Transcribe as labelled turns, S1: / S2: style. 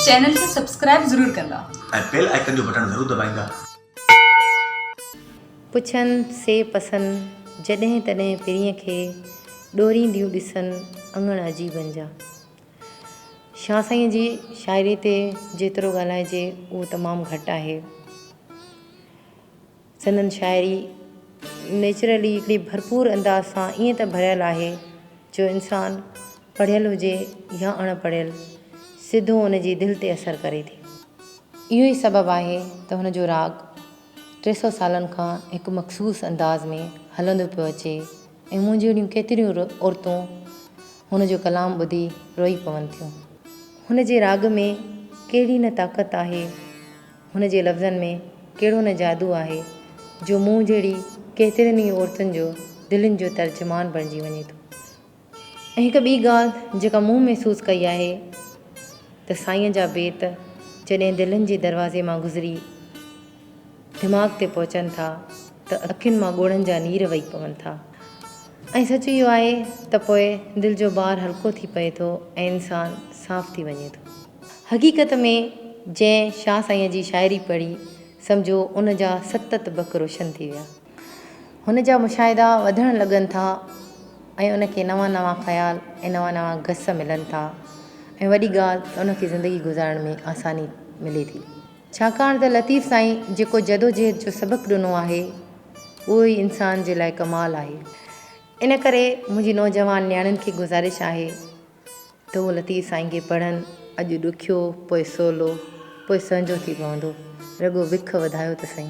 S1: Channel کي subscribe ضرور ڪندا ۽ بيل آئيڪن جو
S2: بٽڻ ضرور دٻائيندا.
S3: پڇن سي پسن، جڏهن تڏهن پرينء کي، ڏورينديون ڏسن اڱڻ عجيبن جا. شاهه سائينء جي شاعريء تي جيترو ڳالهائجي اهو تمام گهٽ آهي. سندن شاعري نيچرلي هڪڙي ڀرپور انداز سان ائين ته ڀريل آهي جو انسان پڙهيل هجي يا اڻ پڙهيل سڌو ان جي دل تي اثر ڪري ٿي. اهو ئي سبب آهي ته هن جو راڳ ٽي سؤ سالن کان هڪ مخصوص انداز ۾ هلندو پيو اچي ۽ مون جهڙيون ڪيتريون عورتون هن جو ڪلام ٻڌي روئي پون ٿيون. هن جي راڳ ۾ ڪهڙي نه طاقت آهي. هن جي لفظن ۾ ڪهڙو نه جادو آهي جو مون جهڙي ڪيترين ئي عورتن جو دلين جو ترجمان بڻجي وڃي ٿو ۽ هڪ ٻي ڳالهه جيڪا مون محسوس ڪئي آهي ته سائين جا بيت جڏهن دلين جي دروازي مان گذري دماغ تي پهچن ٿا ته اکين مان ڳوڙهن جا نير وهي پون ٿا. ۽ سچ اهو آهي ته پوء دل جو بار هلڪو ٿي پئي ٿو ۽ انسان صاف ٿي وڃي ٿو. حقيقت ۾ جنهن شاهه سائينء جي شاعري پڙهي سمجهو ان جا ست تبڪ روشن ٿي ويا. هن جا مشاهدا وڌڻ لڳن ٿا ۽ ان کي نوان نوان خيال ۽ نوان نوان گس ملن ٿا ۽ وڏي ڳالهه ته ان کي زندگي گذارڻ ۾ آساني ملي ٿي. ڇاڪاڻ ته لطيف سائين جيڪو جدوجهد جو سبق ڏنو آهي اهو ئي انسان جي لاء ڪمال آهي ان ڪري منهنجي نوجوان نياڻين کي گذارش آهي ته اهو لطيف سائين کي پڙهن اڄ ڏکيو پوء سولو پوء سهنجو ٿي پوندو رڳو وک وڌايو ته سهي.